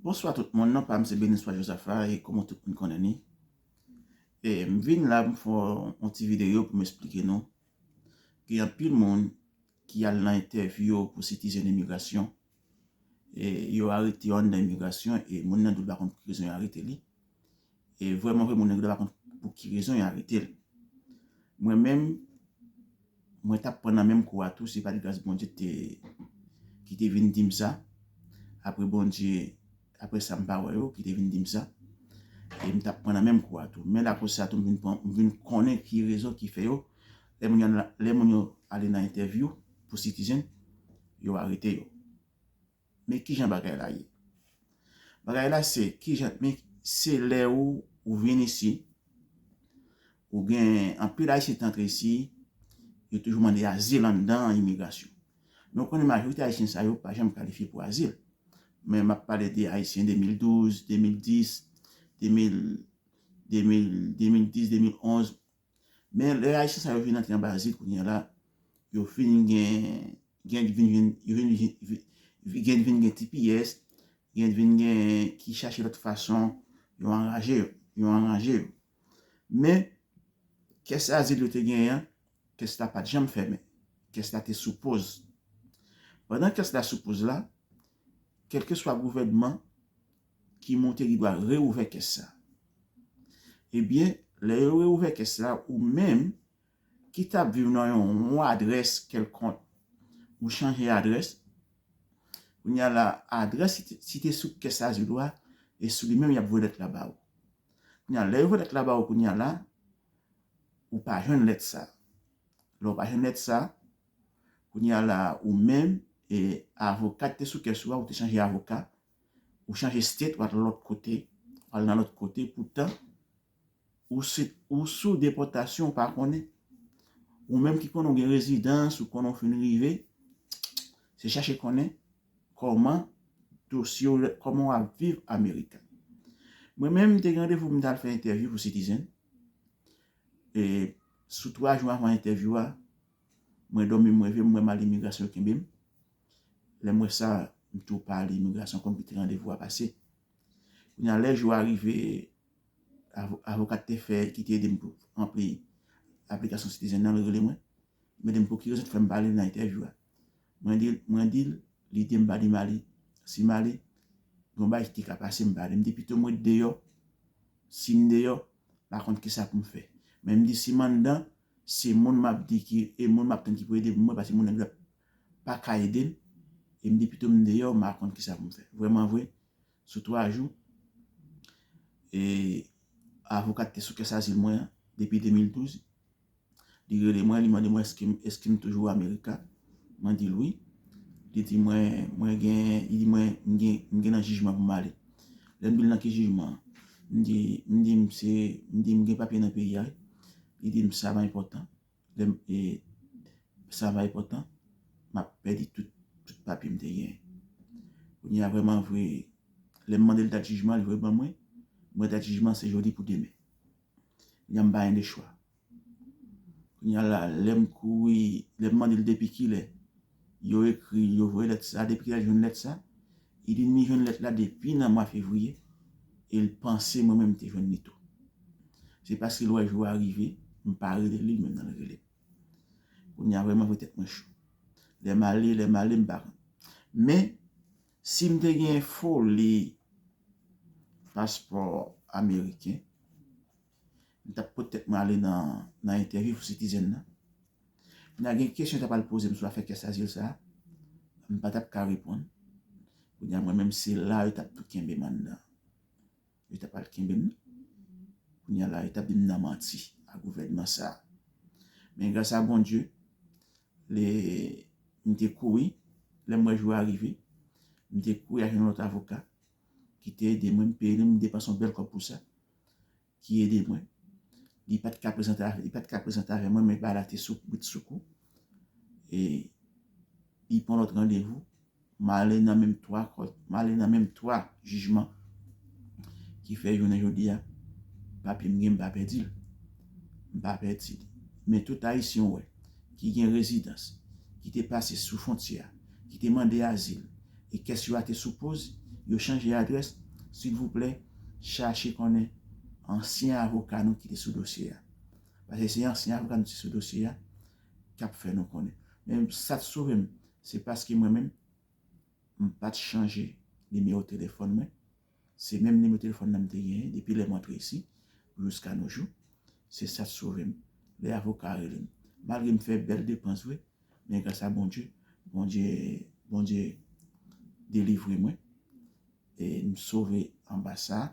Bonswa tout moun, non pam se Beniswa Jozafa e kòman tout moun konnen ni. E m vin la m fè yon ti videyo pou m esplike nou gen anpil moun ki al nan entèvyou yo pou sitizèn imigrasyon e yo arete yo anndan imigrasyon e moun nan di l pa konn pou ki rezon yo arete li. E vrèman vre moun nèg la pa konn pou ki rezon yo aretel. Mwen menm mwen tap pran nan menm kou a tou si pa t gras Bondye te ki te vin dim sa. Aprè Bondye aprè sa m pa wè yo ki te vin dim sa. E m tap pran nan menm kou a tou. Men la koz sa tou m vin pran m vin konnen ki rezon ki fè yo lè moun yo lè moun yo ale nan entèvyou pou citizen yo arete yo. Men kijan bagay la ye. Bagay la se kijan men se lè ou ou vin isi ou gen anpil ayisyen ki te antre isi yo toujou mande azil anndan imigrasyon. Men ou konnen majorite ayisyen sa yo pa janm kalifye pou azil. Men m ap pale de ayisyen 2012, 2010, 2000, 2000, 2010, 2011 Men lè ayisyen sa yo vin antre anba zil kounye a la, yo fin gen, gen vin gen, yo vin gen, gen vin gen tipiyès, gen vin gen ki chache lòt fason yo anraje yo, yo anranje yo. Men kès azil yo te genyen an, kès la pa t janm fèmen, kès la te sou poz. Pandan kès la sou poz la, kèlkeswa gouvènman ki montre li pral reouvè kès sa. Ebyen, lè yo reouvè kès la, ou menm ki t ap viv nan yon yon adrès kèlkonk, ou chanje adrès, kounye a la, adrès ki te site sou kès azil ou a, e sou li menm y ap voye lèt la ba ou. Kounye a, lè yo voye lèt la ba ou kounye a la, ou pa jwenn lèt sa. Lè ou pa jwenn lèt sa, kounye a la, ou menm e avoka ki te sou kès ou a, ou te chanje avoka, Ou chanje state ou al lòt kote, ou al nan lòt kote poutan ou sou depòtasyon ou pa konnen. Ou menm ki konnen ou gen rezidans, ou konnen ou fin rive, se chache konnen kòman dosye ou, kòman ou ap viv Amerika. Mwen menm m te gen randevou pou m ta al fè entèvyou pou Citizen. E sou 3 jou anvan entèvyou a, mwen dòmi m reve m wè m al imigrasyon yo kenbe m. Lè m wè sa, m tou pa ale imigrasyon pou m kite randevou a pase. Kounye a lè jou a rive, avokat te fè ki te ede m pou ranpli aplikasyon sitizen nan, li rele mwen. Li mande m pou ki rezon te fè m pa ale nan entèvyou a. Mwen di l, lide m pa di m ale. Si m ale, gen yon bagay ki te ka pase m pa ale. M di pito m ret deyò, si m deyò, m pa konn ki sa pou m fè. Men m di si m anndan, se moun m ap di ki, e moun m ap tann ki pou ede m mwen pase moun nèg la pa ka ede l e m di pito m deyò m pa konn kisa pou m fè. Vrèmanvre, sou twa jou e avoka ki te sou kès azil mwen an depi 2012, li rele mwen, li mande mwen èske m toujou amerika, mwen di l wi, li di mwen mwen gen nan jijman pou m ale. Lè m di l nan ki jijman an, m di m gen papye nan peyi a, li di m sa pa enpòtan. Lè m e sa va enpòtan, m ap pèdi tout papye m te genyen. Kounye a vrèman vre, lè m mande l dat jijman an, li voye ban mwen, m wè dat jijman an se jodi pou demen. Kounye a m pa gen de chwa. Kounye a la, lè m kouri, lè m mande l depi kilè. Yo ekri, yo voye lèt sa. Depi kilè l jwenn lèt sa? Li di li jwenn lèt la depi nan mwa fevriye e l panse mwen menm m te jwenn li tou. Se paske l wè jou a rive, m pa rele li, li menm nan l rele m. Kounye a vrèman vre tèt mwen cho. Lè m ale, lè m ale m pa konn. Men, si m te gen foli paspò ameriken, M tap pot tèt mwen ale nan entèvyou pou Citizen nan. Kounye a gen kesyon yo ta pral poze m sou afè kès azil sa a, m pa tap ka reponn. Kounye a mwen menm se la yo tap tou kenbe m anndan. Yo ta pral kenbe m. Kounye a la yo tap di m nan manti a gouvènman sa a. Men gras a Bondye, lè m te kouri, lè m wè jou a rive, m te kouri al jwenn yon lòt avoka ki te ede mwen, m peye li, m depanse yon bèl kòb pou sa. ki ede mwen. Li pat ka prezante, li pat ka prezante avè mwen men bagay la te sou brite sou kou. E li pran lòt randevou, m ale nan menm 3 kòt, m ale nan menm 3 jijman ki fè jounen jodi a papye m gen m pa pèdi l. M pa pèdi l. Men tout Ayisyen ou wè ki gen rezidans, ki te pase sou fwontyè a, ki te mande azil, e kès yo a te sou poz, yo chanje adrès, silvouplè chache konnen ansyen avoka nou ki te sou dosye a. Paske se ansyen avoka nou ki te sou dosye a k ap fè nou konnen. Men sa t sove m, se paske mwen menm m pa t chanje nimewo telefòn mwen. Se menm nimewo telefòn nan m te genyen depi lè m antre isi pou jiska no jou. Se sa t sove m lè avoka a rele m. Malgre m fè bèl depans vre men gras a Bondye, Bondye Bondye delivre mwen e m sove anba sa.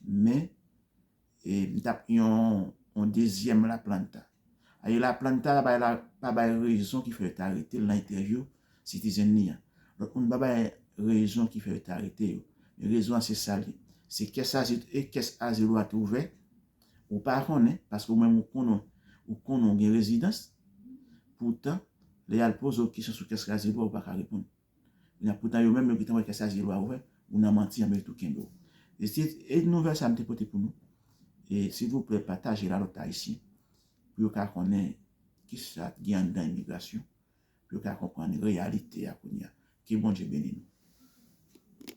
Men E m tap yon yon dezyèm la planta. Aye la planta la bay la pa bay rezon ki fè yo ta rete l nan entèvyou Citizen li an. Lòt moun pa bay rezon ki fè yo ta rete yo. Men rezon an se sa l ye. Se kès azil e kès azil ou a te ouvè. Ou pa konnen, paske ou menm ou konnen ou konnen ou gen rezidans. Poutan, lè y al poze w kesyon sou kès azil ou a ou pa ka reponn. Kounye a poutan yo menm yo gentan wè kè chaje lwa ouvè ou nan manti anben yo tou kenbe w. E se e nouvèl sa m te pote pou nou e silvouplè patajel a lòt ayisyen pou yo ka konnen kisa k gen anndan imigrasyon pou yo ka konprann reyalite a kounye a. Ke Bondye beni nou.